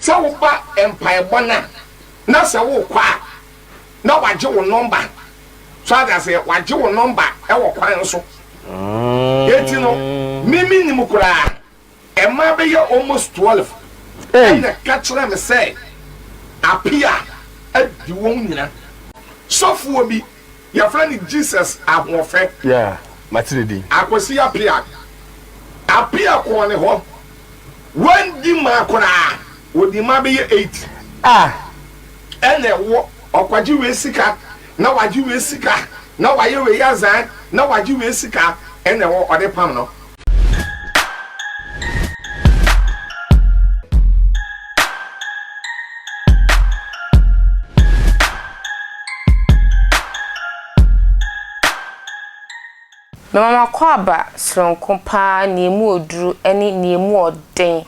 Sɛ woba mpaebɔ no a, na sɛ wokɔ a, na wɔagye wo nɔmba. So ate aseɛ? Wɔagye wo nɔmba wɔ kwan so. Enti no, me mennim koraa. Mmaa bɛyɛ almost twelve na ɛka kyerɛɛ me sɛ Appiah adi wɔn nyinaa. Sɔfoɔ bi Yɛfrɛ no Jesus Ahoɔfɛ. Yeah, mate ne din. Akwasi Appiah. Appiah kɔɔ ne hɔ. Wanndi ma koraa. Ɔdii ma bɛyɛ eight. Ah! Ɛna ɛwɔ, ɔkɔgye wei sika, na wagye wei sika, na wayɛ wei azan, na wagye wei sika, ɛna ɛwɔ, ɔde pam no. Mema m'akwaaba soronko paa nea emu yɛ duru ne nea emu yɛ den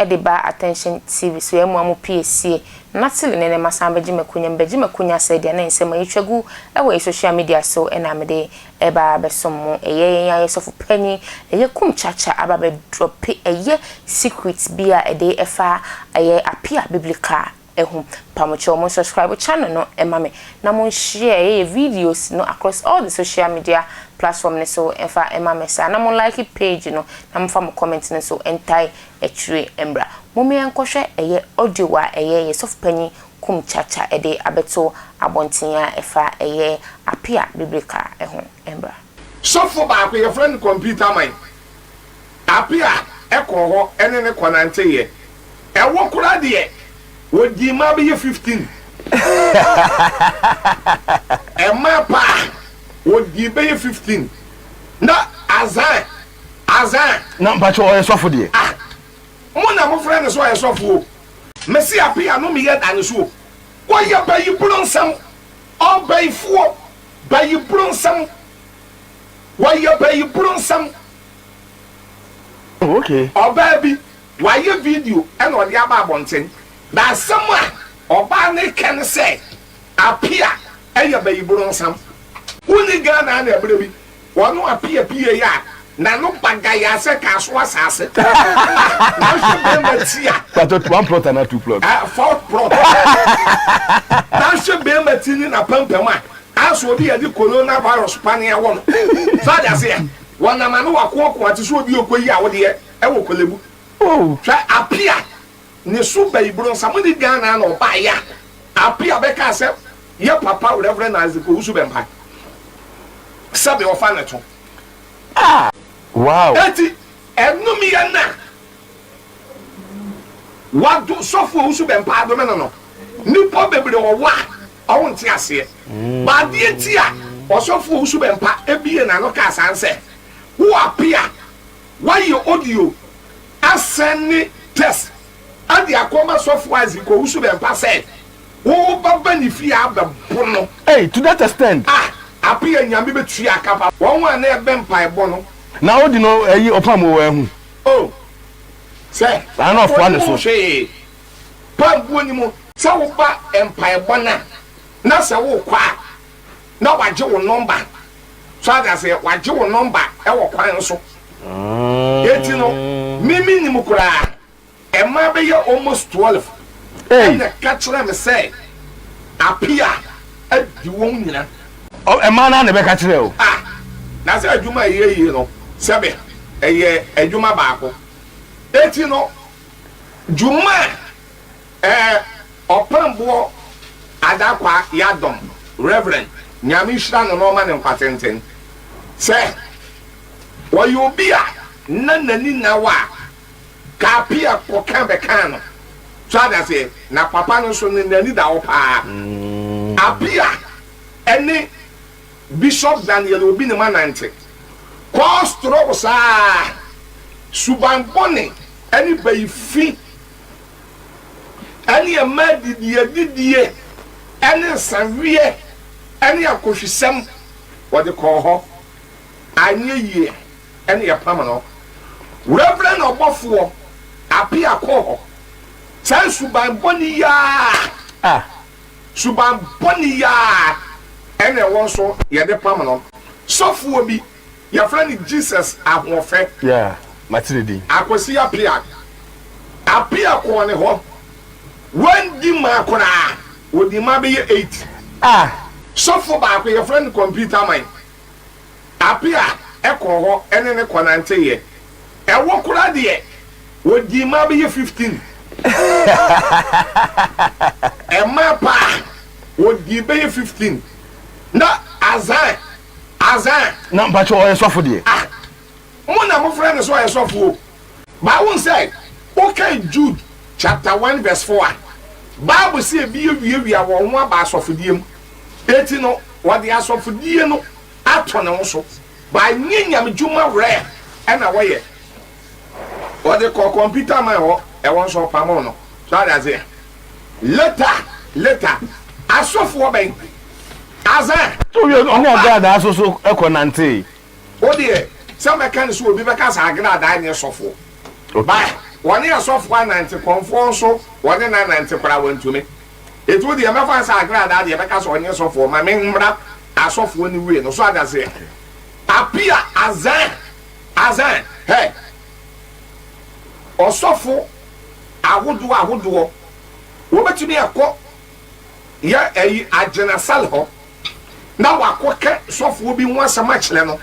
de ba Attention TV so ɛmmoa mo pii sie na tele ne nɛma san bɛgye makunya mebɛgye makunya sɛ deɛ na nsɛm a yɛtwa gu wɔ yɛ social media so na mede ɛba abɛsom mo ɛyɛ yɛn ayɛ sɔfo panyin ɛyɛ kum kyakya aba bɛ drɔpe ɛyɛ secret bi a ɛde ɛfa ɛyɛ apia biblical ho pamokyɛw mo subscribe channel no ma me na mo share yɛ videos no across all the social media platform no so mfa ma me saa na mo like page no na mo fa mo comment no so ntae akyire mbra mo me nkɔ hwɛ ɛyɛ audio a ɛyɛ yɛ sɔfo panyin kum kyakya ɛde abɛto abɔnten a ɛfa ɛyɛ apea bibirika ho mbra. Sɔfo baako yɛfrɛ no computer man Apia kɔɔ hɔ ne no kɔnanteeɛ. Ɛwɔ koraa deɛ, wɔdii mmaa bɛyɛ fifteen. Mmaa paa, wɔdii bɛyɛ fifteen. Na Azan, Azan. Na mpakyɛ ɔyɛ sɔfo deɛ? Ah, mo na mofrɛ no sɛ ɔyɛ sɔfo o. Mese Apia no meyɛ da no so o. Wɔyɛ Bayibronsɛm ɔbayifoɔ, Bayibronsɛm. Wɔyɛ bayiburo nsɛm. Oh, okay. Ɔbaa bi, wayɛ video ɛna ɔde aba abɔnten. Na asɛm a ɔbaa no reka ne sɛ, Apia ɛyɛ bayiboro nsɛm. Wonni Ghana ɛna ɛberɛ bi wɔne Apia pieeɛ a, Na no ba gayaa sɛ kaa so asaase ah na nhwɛ bɛɛma ti a. Pakyɛ one plot anaa two plot. Ah four plot na nhwɛ bɛɛma ti ne napampam a ah sɛ obi yɛde corona virus pane awɔ no so ate ase a wɔnam ano wakoakoa te sɛ obi a okoyi awodeɛ ɛwɔ kɔlɛbu hwɛ apia ne so ba iburo nsa mo ne Ghana na ɔbaeɛ a apia bɛkaa sɛ yɛ papa Reverend Isaac Owusu Bɛmpae sɛbe ɔfa ne to. Ah! Wow! Enti ɛnom yɛ na wado sɔfo a ɔso bɛmpa adome no no. Nnipa bebree wɔ hɔ a wɔnte aseɛ. But adeɛ nti a ɔsɔfo a ɔso bɛmpa buee n'ano kaa saa ne sɛ, Wo ape a woayɛ audio asɛne text de akɔma sɔfo Isaac a ɔso bɛmpa sɛ, Wo ba ba ne fie a bɛ bo no. Ei to that extend. Ah ape a Nyame bɛ tua aka pa wɔn ho a na ɛbɛ mpaebɔ no. Na odi no ɛyi ɔpam oo ɛhu. Oh sɛ ɔbɔ ne ho hwee pa mbuo ni mo. Sɛ wo ba mpaebɔ na na sɛ wo kɔ a na wagye wo nɔmba so ate aseɛ wagye wo nɔmba ɛwɔ kwan so eti no me me nim koraa. Mmaa bɛyɛ almost twelve ɛna ɛka kyerɛɛ me sɛ Appiah adi wɔn nyina. Ɔ mmaa no ara na ɛbɛka kyerɛɛ wo? Ah, na sɛ adwuma a ɛyɛ yie no, sɛbe ɛyɛ adwuma baako. Enti no, dwuma a ɛɛ Ɔpɛnboɔ Adakwaa Yadom, Rev. Nyame nhyira no na ɔma no nkwa tenten, sɛ ɔyɛ obi a na n'ani nna hɔ a Kaapia kɔka bɛkaa no. So ate aseɛ? Na papa no nso no n'ani da hɔ paa. Apia ne Bishop Daniel Obi ne mu anante. Kɔɔ strɔgo saa ara. Suban bɔne ne bayi fi ne ɛmaa didiɛ didie ne nsaweɛ ne akɔhwisɛm wɔde kɔɔ hɔ. Anyɛ yie. ɛne yɛpam no. Reverend ɔbɔfoɔ Appiah kɔɔ hɔ saa suban bɔne yi ara, suban bɔne yi ara ɛna ɛwɔ nso yɛde pam no. Sɔfoɔ bi yɛfrɛ no Jesus Ahoɔfɛ, Akwasi Appiah, Appiah kɔɔ ne hɔ, wandi mmaa koraa, ɔdii mmaa bɛyɛ eight. Sɔfoɔ baako yɛfrɛ no Computer Man. Ape a ɛkɔ hɔ ne ne kɔnanteeɛ. Ɛwɔ koraa deɛ, wɔdii mmaa bɛyɛ 15. Mmaa paa, wɔdii bɛyɛ 15. Na Azan, Azan. Na mpakyɛ ɔyɛ sɔfo deɛ? Ah. Mo na mofrɛ no sɛ ɔyɛ sɔfo o. But wohu sɛ wokan Jude chapter one verse four a, Bible se ebi awiawia wɔn ho aba asɔfodie mu. Enti no, wɔde asɔfodie no ato ne ho so. But ɛnyɛ nyamedwuma werɛ na wɔyɛ. Wɔde kɔɔ computer man hɔ, ɛhɔ nso ɔpamoo no. So ate aseɛ? Later, later, asɔfoɔ bɛn? Asaa. Wowie no, ɔne agradaa nso so kɔnantee. Wo deɛ sɛ mɛka no sɛ obi bɛka saa agradaa nyɛ sɔfoɔ ba wɔne asɔfoɔ anante kɔmfoɔ nso wɔne no anante koraa wɔntumi enti wo deɛ mɛfa no sɛ agradaa deɛ ɛbɛka sɛ ɔnyɛ sɔfoɔ ma me mmra asɔfoɔ no wie no so adaseɛ apia azan azan hɛ ɔsɔfo ahodoɔ ahodoɔ wɔbɛtumi akɔ yɛ eyi agyina sal hɔ na ɔakɔkɛ sɔfoɔ bi ho asɛm akyerɛ no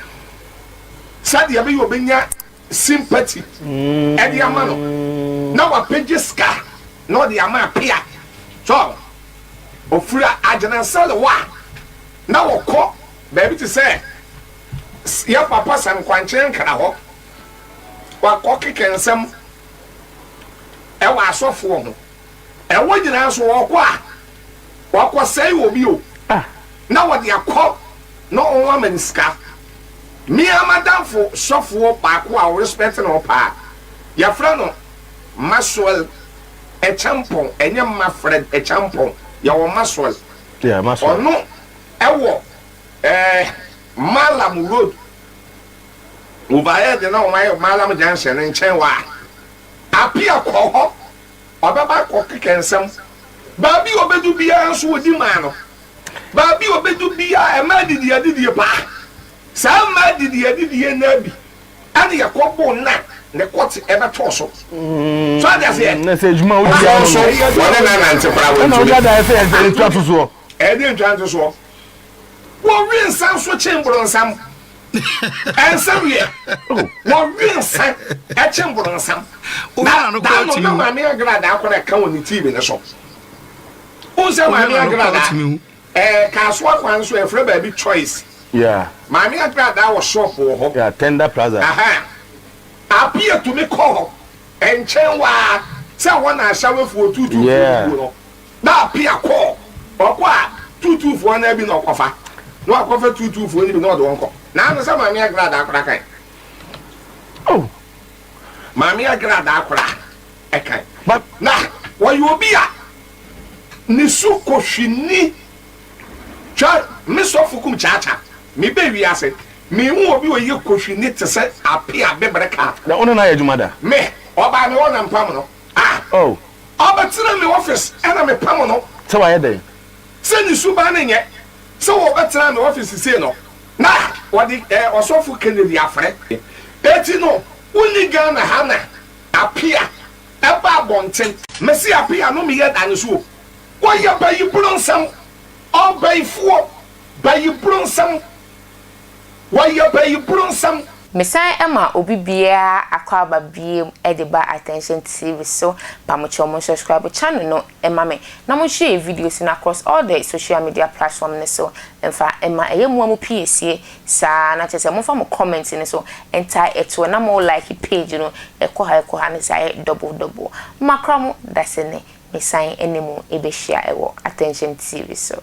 sɛdeɛ ɛbɛyɛ ɔbɛnya sympathy ɛde ama no na wapɛgye sika na ɔde ama apea so ɔfira agyina sal hɔ a na ɔkɔ baabi te sɛ yɛ papa sɛ nkwankyɛn nkra hɔ wakɔ kekɛ nsɛm ɛwɔ asɔfoɔ ho Ɛwɔ nyinaa so ɔɔkɔ a ɔɔkɔ sɛe obi o na wɔde akɔ na ɔho ama no sika. Me ara m'adamfo sɔfoɔ baako a ɔrespɛte no paa yɛfrɛ no Maxwell Acheampong ɛnyɛ Mafred Acheampong yɛwɔ Maxwell ɔno ɛwɔ ɛɛ Mallam road overhead na wɔn ayɛ Mallam junction no nkyɛn hɔ a Appiah kɔɔ hɔ Ɔbɛba akɔ keka nsɛm. Baabi a ɔbɛdu biara nso ɔdi maa no. Baabi a ɔbɛdu biara mmaa didi adidie pa. Saa mmaa didi adidie no ara bi ɛna ɛkɔ bo na ne kɔte ɛbɛtɔ so. So ate aseɛ? Na sɛ adwuma a wodi Afei ara no nso no, wɔne no anante koraa ɛna wode wɔntumi. ada ayɛ sɛ ɛyɛ ntwa ntosoɔ. Ɛyɛ deɛ ntwa ntosoɔ. Wɔwe nsa nso kyen borɔnsam. Ɛnsa weɛ. Wɔwe nsa kyen borɔnsam. Na Dano na Maame Agradaa kɔ na ɛka wɔ ne TV no so. Wohu sɛ Maame Agradaa ɛɛ Kasoa kwan so ɛfrɛ baabi Choice. Maame Agradaa wɔ shop wɔ hɔ. Tender Plaza. Ahaa. Apia tumi kɔ hɔ nkyɛn waa sɛ ɛhɔ na Ashawefoɔ tuutuutuo no guo no. Na Pia kɔ, ɔkɔ a tuutuufoɔ no ara bi na ɔkɔfa, na wakɔfa tuutuufoɔ no bi na ɔde wɔn kɔ. Nanso sɛ Maame Agradaa koraa kan. Oh, Maame Agradaa koraa kan. But na ɔyɛ obi a ne su kɔ hwini. Hwɛ, me sɔfo kum kyaakya, mebɛ wiase, menhu obi ɔyɛ kɔ hwini te sɛ Apia Bebre Kaah. Na wo ne no ayɛ adwuma da? Me, ɔbaa me hɔ na mpam no. Ah! Oh! Ɔbɛtena me office ɛna me pam no. Sɛ wayɛ dɛn? Sɛ ne suban no nyɛ sɛ ɔbɛtena me office sei no, na ɔde eh, Ɔsɔfo Kennedy afrɛ. Eti no, wonni Ghana ha na Apia ɛba abɔnten. Mese Apia no meyɛ da ne so o. Ɔyɛ bayibronsɛm, ɔbayifoɔ, bayibronsɛm. Wɔyɛ bɛyiboro nsɛm. Mesan ma obi biara akwaaba biom de ba attention TV so pamokyɛw mo subscribe channel no ma me na mo share videos no across all the social media platform no so mfa ma ɛyɛ moa mo piesie saa na kyɛsɛ momfa mo comment no so ntae ɛtoɔ na mo like page no ɛkɔ ha ɛkɔ ha ne saa yɛ double double makra mo dasene mesan ne mo bɛhyia ɛwɔ attention TV so.